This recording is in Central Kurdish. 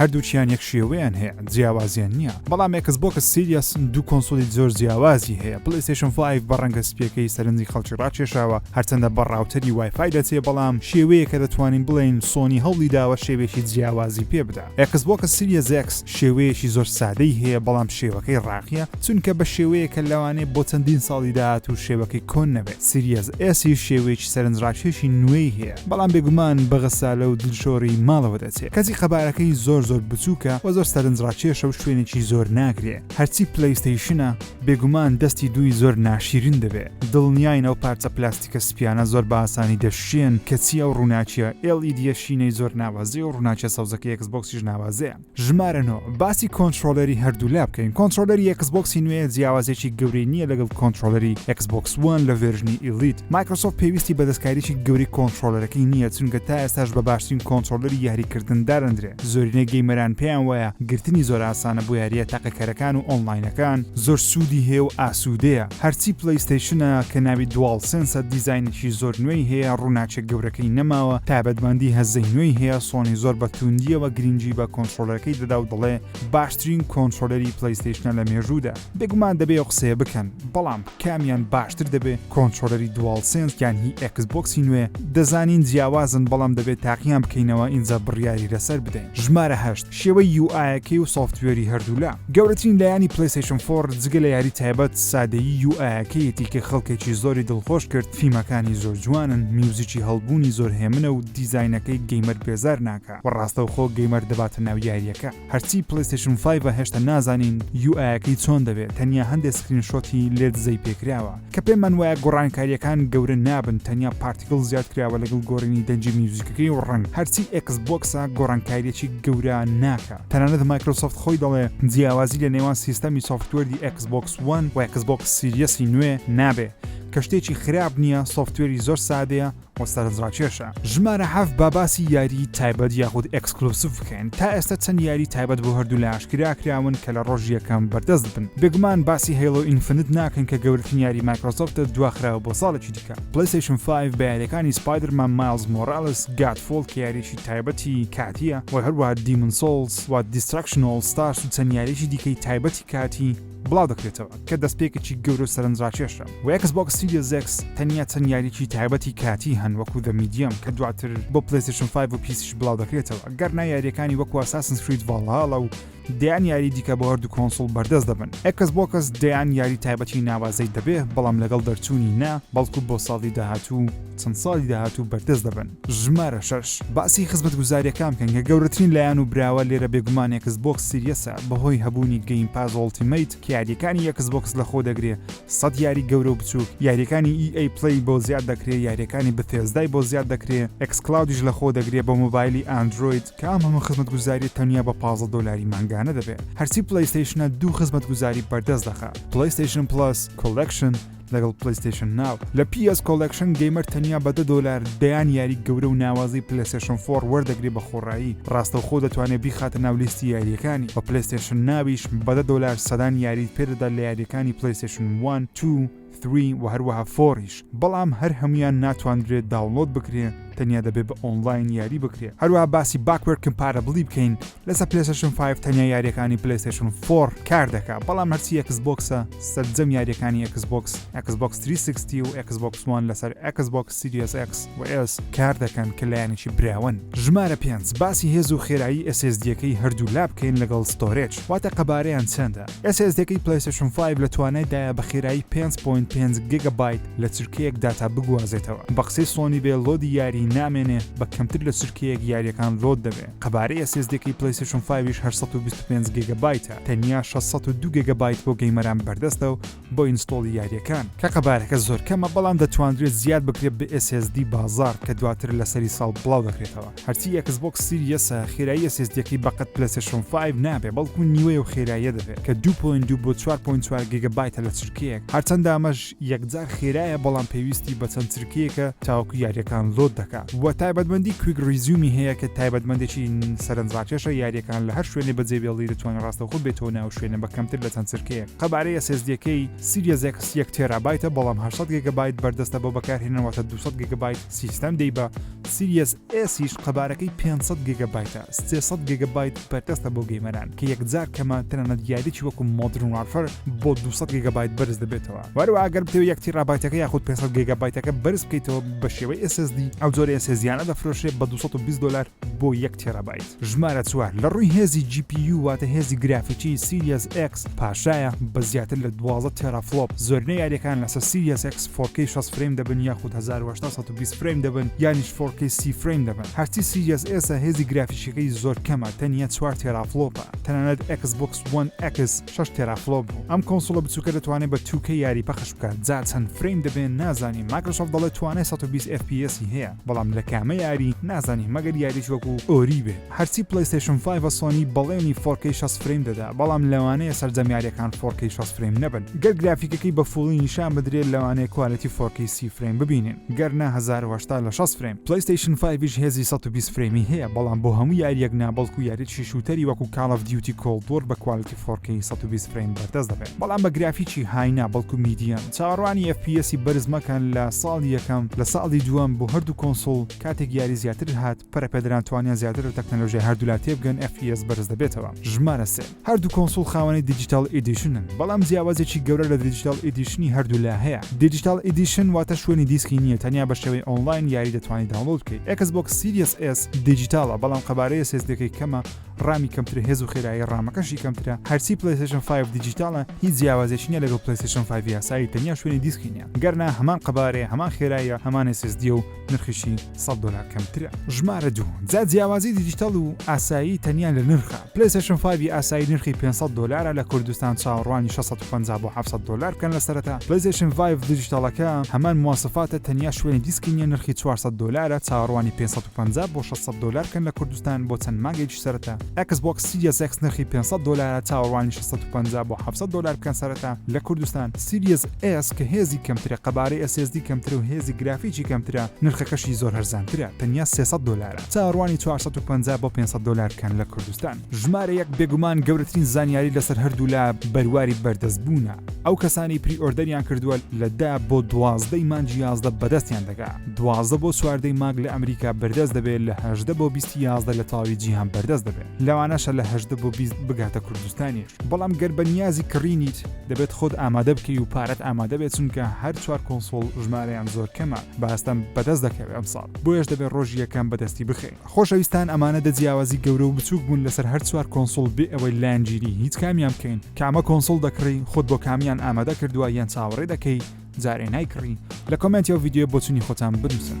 هەردووکیان یەک شێوەیان هەیە جیاوازیان نییە بەڵام ئێکس بۆکس سیریاس دوو کۆنسۆلی زۆر جیاوازی هەیە پلیستشن فایف بە ڕەنگە سپیەکەی سەرنجی خەڵکی ڕاکێشاوە هەرچەندە بە ڕاوتەری وایفای دەچێ بەڵام شێوەیە کە دەتوانین بڵێین سۆنی هەوڵی داوە شێوێکی جیاوازی پێ بدا ئێکس بۆکس سیریەس ئێکس شێوەیەکی زۆر سادەی هەیە بەڵام شێوەکەی ڕاقیە چونکە بە شێوەیە کە لەوانەیە بۆ چەندین ساڵی داهاتوو شێوەکەی کۆن نەبێت سیریەس ئێسی شێوەیەکی سەرنجڕاکێشی نوێی هەیە بەڵام بێگومان بە غەسالە و دلشۆری ماڵەوە دەچێ کەچی قەبارەکەی زۆر زۆر بچووکە وە زۆر سەرنجڕاکێشە و شوێنێکی زۆر ناگرێ هەرچی پلەیستەیشنە بێگومان دەستی دووی زۆر ناشیرین دەبێ دڵنیاین ئەو پارچە پلاستیکە سپیانە زۆر بە ئاسانی دەشکێن کەچی ئەو ڕووناکیە ئێڵ ئیدیە شینەی زۆر ناوازەیە و ڕووناکیە سەوزەکەی ئێکس بۆکسیش ناوازەیە. ژمارە نۆ، باسی کۆنترۆلەری هەردوولا بکەین کۆنترۆلەری ئێکسبۆکسی نوێ جیاوازێکی گەورەی نییە لەگەڵ کۆنترۆلەری ئێکسبۆکس وان لە ڤێرژنی ئیلیت مایکرۆسۆف پێویستی بە دەستکاریی گەورەی کۆنترۆلەرەکەی نییە چونکە تا ئێستاش بە باشترین کۆنترۆلەری یاریکردن دادەندرێ زۆرینەی گەیمەران پێیان وایە گرتنی زۆر ئاسانە بۆ یارییە تاقیکەرەکان و ئۆنلاینەکان زۆر سوودی هەیە و ئاسوودەیە هەرچی پلەیستەیشنە کە ناوی دواڵ سێنسە دیزاینێکی زۆر نوێی هەیە ڕوناکێک گەورەکەی نەماوە تایبەتمەندی هەزەی نوێی هەیە سۆنی زۆر بە توندیەوە گرینگی بە کۆنتڕۆلەرەکەی دەدا و دەڵێ باشترین کۆنتڕۆلەری پلەیستەیشنە لە مێژوودا بێگومان دەبێ ئەو قسەیە بکەن بەڵام کامیان باشتر دەبێ کۆنتڕۆلەری دواڵ سێنس یان هی ئێکس بۆکسی نوێ دەزانین جیاوازن بەڵام دەبێ تاقیان بکەینەوە ئینجا بڕیاری لەسەر بدەین ژمارە هەشت شێوەی یو ئایەکەی و سۆفتوێری هەردوولا. گەورەترین لایەنی پلەیستەیشن فۆڕ جگە لە یاری تایبەت سادەیی یو ئایەکەیەتی کە خەڵکێکی زۆری دڵخۆش کرد فیمەکانی زۆر جوانن میوزیکی هەڵبوونی زۆر هێمنە و دیزاینەکەی گەیمەر بێزار ناکا وە ڕاستەوخۆ گەیمەر دەباتە ناو یاریەکە هەرچی پلەیستەیشن فایڤە هێشتا نازانین یو ئایەکەی چۆن دەبێت تەنیا هەندێ سکرین شۆتی لێ دزەی پێکراوە کە پێمان وایە گۆڕانکارییەکان گەورە نابن تەنیا پارتیکڵ زیاد کراوە لەگەڵ گۆڕینی دەنگی میوزیکەکەی و ڕەنگ هەرچی ئێکس بۆکسە گۆڕانکاریەکی گەورە ناکا تەنانەت مایکرۆسۆفت خۆی دەڵێ جیاوازی لە نێوان سیستەمی سۆفتوێردی ئێکس بۆکس وەن و ئێکس بۆکس سیریەسی نوێ نابێ کە شتێکی خراپ نییە سۆفتوێری زۆر سادەیە و سەرنجڕاکێشە. ژمارە حەف با باسی یاری تایبەت یاخود ئەکسکلوسف بکەین تا ئێستا چەند یاری تایبەت بۆ هەردوو لە ئاشکراکراون کە لە ڕۆژ یەکەم بەردەست بن بگومان باسی هەیڵۆ ئینفنت ناکەین کە گەورتن یاری مایکرۆسۆفتە دواخراوە بۆ ساڵێکی دیکە پلیسیشن 5 بەیارەکانی سپایدرمان ماز مۆرالیس گات فۆڵ کە یاریی تایبەتی کاتیە و هەروە دیمن سۆڵس و دیسترکشنۆڵ ستارس و چەند یاریی دیکەی تایبەتی کاتی بڵاو دەکرێتەوە کە دەستپێکێکی گەورە و سەرنجڕاکێشە، و ئێکس بۆکس سیریەس ئێکس تەنیا چەند یارییەکی تایبەتی کاتی هەن وەکو The Medium کە دواتر بۆ پلەیستەیشن فایڤ و پیسیش بڵاو دەکرێتەوە، گەر نا یارییەکانی وەکو ئەساسنس کرید ڤاڵهاڵا و دەیان یاریی دیکە بۆ هەردوو کۆنسوڵ بەردەست دەبن. ئێکس بۆکس دەیان یاری تایبەتی ناوازەی دەبێ، بەڵام لەگەڵ دەرچوونی نا، بەڵکو بۆ ساڵی داهاتوو و چەند ساڵی داهاتوو بەردەست دەبن. ژمارە شەش، باسی خزمەتگوزاریەکان بکەن کە گەورەترین لایەن و براوە لێرە بێگومان ئێکس بۆکس سیریەسە بەهۆی هەبوونی گەیم پاس ئۆڵتیمەیت کە یاریەکانی ئێکس بۆکس لەخۆ دەگرێ سەد یاری گەورە و بچووک یاریەکانی ئی ئەی پلەی بۆ زیاد دەکرێ یاریەکانی بثێزدای بۆ زیاد دەکرێ ئێکس کلاودیش لەخۆ دەگرێ بۆ مۆبایلی ئاندرۆید کە ئەم هەموو خزمەتگوزاریە تەنیا بە پازدە دۆلاری مانگانە دەبێ هەرچی پلەیستەیشنە دوو خزمەتگوزاری بەردەست دەخا پلەیستەیشن پڵەس کۆڵێکشن لەگەڵ پلەیستەیشن ناو. لە پی ئێس کۆڵێکشن گەیمەر تەنیا بە دە دۆلار دەیان یاری گەورە و ناوازەی پلەیستەیشن فۆڕ وەردەگرێ بە خۆڕایی ڕاستەوخۆ دەتوانێ بیخاتە ناو لیستی یارییەکانی وە پلەیستەیشن ناویش بە دە دۆلار سەدان یاریت پێ دەدا لە یارییەکانی پلەیستەیشن وان توو ثری وە هەروەها فۆڕیش بەڵام هەر هەموویان ناتواندرێ داونڵۆد بکرێ تەنیا دەبێ بە ئۆنڵاین یاری بکرێ هەروەها باسی باکوەرد کمپارەبڵی بکەین لەسەر پلەیستەشن فایڤ تەنیا یاریەکانی پلەیستەشن فۆر کار دەکا بەڵام هەرچی ئەکس بۆکسە سەرجەم یاریەکانی ئەکس بۆکس ئەکس بۆکس 360 و ئەکس بۆکس وان لەسەر ئەکس بۆکس سیریس ئەکس وئس کار دەکەن کە لایەنێکی براون ژمارە پێنج باسی هێز و خێرایی ئەسێزدیەکەی هەردوو لا بکەین لەگەڵ ستۆرێج واتە قەبارەیان چەندە ئەسێزدەکەی پلەیستەشن فایڤ لە توانای دایە بە خێرایی 5.5 گگە بایت لە چرکەیەک داتا بگوازێتەوە بە قسەی سۆنی بێ لۆدی یاری نامێنێ بە کەمتر لە چرکەیەک یاریەکان لۆد دەبێ قەبارەی ئەس ئێس دیەکەی پلەیستەشن فایڤیش هەشت سەد و بیست و پێنج گێگە بایتە تەنیا شەش سەد و دوو گێگە بایت بۆ گەیمەران بەردەستە و بۆ ئینستۆڵی یاریەکان کە قەبارەکە زۆر کەمە بەڵام دەتواندرێت زیاد بکرێت بە ئێس ئێس دی بازاڕ کە دواتر لە سەری ساڵ بڵاو دەکرێتەوە هەرچی ئێکس بۆکس سیریەسە خێرایی ئەس ئێس دیەکەی بەقەد پلەیستەشن فایڤ نابێت بەڵکو نیوەی ئەو خێراییە دەبێت کە دوو پۆینت دوو بۆ چوار پۆینت چوار گێگە بایتە لە چرکەیەک هەرچەندە ئەمەش یەکجار خێرایە بەڵام پێویستی بە چەند چرکەیەکە تاوەکو یاریەکان لۆد دەکا وە تایبەتمەندی کویک ریزیومی هەیە کە تایبەتمەندێکی سەرنجڕاکێشە یاریەکان لە هەر شوێنێ بەجێ بێڵی دەتوانی ڕاستەوخۆ بێیتەوە ناو شوێنە بە کەمتر لە چەند چرکەیەک قەبارەی ئێس ئێس دیەکەی سیریەس ئێکس یەک تێرابایتە بەڵام هەشت سەد گێگەبایت بەردەستە بۆ بەکارهێنەر واتە دوو سەد گێگەبایت سیستەم دەی بە سیریەس ئێسیش قەبارەکەی پێنج سەد گێگە بایتە، سێ سەد گێگە بایت بەردەستە بۆ گەیمەران کە یەکجار کەمە، تەنانەت یاریەکی وەکو مۆدرن وارفەر بۆ دوو سەد گێگە بایت بەرز دەبێتەوە، و هەروەها گەر بتەوێت یەک تیرابایتەکە یاخود پێنج سەد گێگە بایتەکە بەرز بکەیتەوە بە شێوەی SSD، ئەو جۆرە SSD یانە دەفرۆشرێت بە دوو سەد و بیست دۆلار بۆ یەک تیرابایت. ژمارە چوار لە ڕووی هێزی جی پی یو واتە هێزی گرافیکی سیریەس ئێکس پاشایە بە زیاتر لە دوازدە تێرافڵۆپ، زۆرینەی یاریەکان لەسەر سیریەس ئێکس فۆر کەی شەست فرەیم دەبن یاخود هەزار و هەشتا سەد و بیست فرەیم دەبن یانیش فۆر کەی سی فرەیم دەبن هەرچی سیریەس ئێسە هێزی گرافیکیەکەی زۆر کەمە تەنیا چوار تێرافڵۆپە تەنانەت ئێکس بۆکس وەن ئێکس شەش تێرافڵۆپ بوو ئەم کۆنسوڵە بچوکە دەتوانێت بە توو کەی یاری پەخش بکات جا چەند فرەیم دەبێ نازانین مایکرۆسۆفت دەڵێت توانای سەد و بیست FPS ی هەیە. بەڵام لە کامە یاری نازانین مەگەر یاریش وەکو ئۆری بێ هەرچی پلەیستشن 5 سۆنی بەڵێنی فۆرکەی 6 فرەیم دەدا بەڵام لەوانەیە سەرجەم یاریەکان فۆرکەی 6 فرەیم نەبن گەر گرافیکەکەی بە فوڵی نیشان بدرێت لەوانەیە کوالەتی فۆرکەی سی فرەیم ببینین گەرنا 1970 لە 6 فرەیم پلەیستشن 5 هێزی 120 فرەیمی هەیە بەڵام بۆ هەموو یاریەک نا بەڵکو یاریی شووتەری وەکو کاڵ ئەف دیوتی کۆڵد وۆر بە کوالەتی فۆرکەی سەد و بیست فرەیم بەردەست دەبێت بەڵام بە گرافیکی های نا بەڵکو میدیەم چاوەڕوانی ئێف پی ئێسی بەرز مەکەن لە ساڵی یەکەم لە ساڵی دووەم بۆ هەردوو کۆنسوڵ کاتێک یاری زیاتر هات پەرەپێدەران توانیان زیاتر لە تەکنەلۆژیای هەردوولا تێبگەن ئێف پی ئێس بەرز دەبێتەوە ژمارە سێ هەردوو کۆنسوڵ خاوەنی دیجیتاڵ ئیدیشنن بەڵام جیاوازێکی گەورە لە دریجیتاڵ ئیدیشنی هەردوولا هەیە دیجیتاڵ ئیدیشن واتە شوێنی دیسکی نییە تەنیا بە شێوەی ئۆنڵاین یاری دەتوانی داونڵۆد بکەیت ئێکس بۆکس سیریەس ئێس دیجیتاڵە بەڵام قەبارەی ئێس ئێس دیەکەی کەمە ڕامی کەمترە هێز و خێرایی ڕامەکەشی کەمترە هەرچی پلیسشن 5 دیجیتالە هیچ جیاوازێکی نیە لەگەڵ پلیسشن 5 یاسایی تەنیا شوێنی دیسکی نیە گەرنا هەمان قەبارێ هەمان خێراییە هەمان SSD و نرخیشی 100 دلار کەمترە ژمارە دوو جا جیاوازی دیجیتال و ئاسایی تەنیا لە نرخە پلیسشن 5 ئاسایی نرخی 500 دلارە لە کوردستان چاوەڕوانی 650 بۆ 700 دلار بکەن لە سەرەتا پلیسشن 5 دیجیتالەکە هەمان مواسفاتە تەنیا شوێنی دیسکی نیە نرخی 400 دلارە چاوەڕوانی 550 بۆ 600 دلار کەن لە کوردستان کوردستان بۆ چەند مانگێکیش سەرەتا ئێکس بۆکس سیریەس ئێکس نرخی پێنج سەد دۆلارە چاوەڕوانی شەش سەد و پەنجا بۆ حەفت سەد دۆلار بکەن سەرەتا لە کوردستان سیریەس ئێس کە هێزی کەمترە قەبارەی ئێس ئێس دی کەمترە و هێزی گرافیکی کەمترە نرخەکەشی زۆر هەرزانترە تەنیا سێ سەد دۆلارە چاوەڕوانی چوار سەد و پەنجا بۆ پێنج سەد دۆلار بکەن لە کوردستان ژمارە یەک بێگومان گەورەترین زانیاری لەسەر هەردوولا بەرواری بەردەست بوونە ئەو کەسانەی پری ئۆردەریان کردووە لە دە بۆ دوازدە ی مانگی یازدە بەدەستیان دەگا. دوازدە بۆ چواردەی مانگ لە ئەمریکا بەردەست دەبێت لە هەژدە بۆ بیستی یازدە لە تەواوی جیهان بەردەست دەبێت لەوانەشە لە هەژدە بۆ بیست بگاتە کوردستانیش بەڵام گەر بە نیازی کڕینیت دەبێت خۆت ئامادە بکەی و پارەت ئامادە بێت چونکە هەر چوار کۆنسۆڵ ژمارەیان زۆر کەمە باستەم بەدەست دەکەوێت ئەم ساڵ بۆیش دەبێت ڕۆژی یەکەم بەدەستی بخەین خۆشەویستان ئەمانە دە جیاوازی گەورە و بچووک بوون لەسەر هەر چوار کۆنسۆڵ بێ ئەوەی لایەنگیری هیچ کامیان بکەین کامە کۆنسۆڵ دەکڕی خۆت بۆ کامیان ئامادە کردووە یان چاوەڕێ دەکەی جارێ نایکڕی لە کۆمێنتی ئەو ڤیدیۆیە بۆچونی خۆتان بنووسن.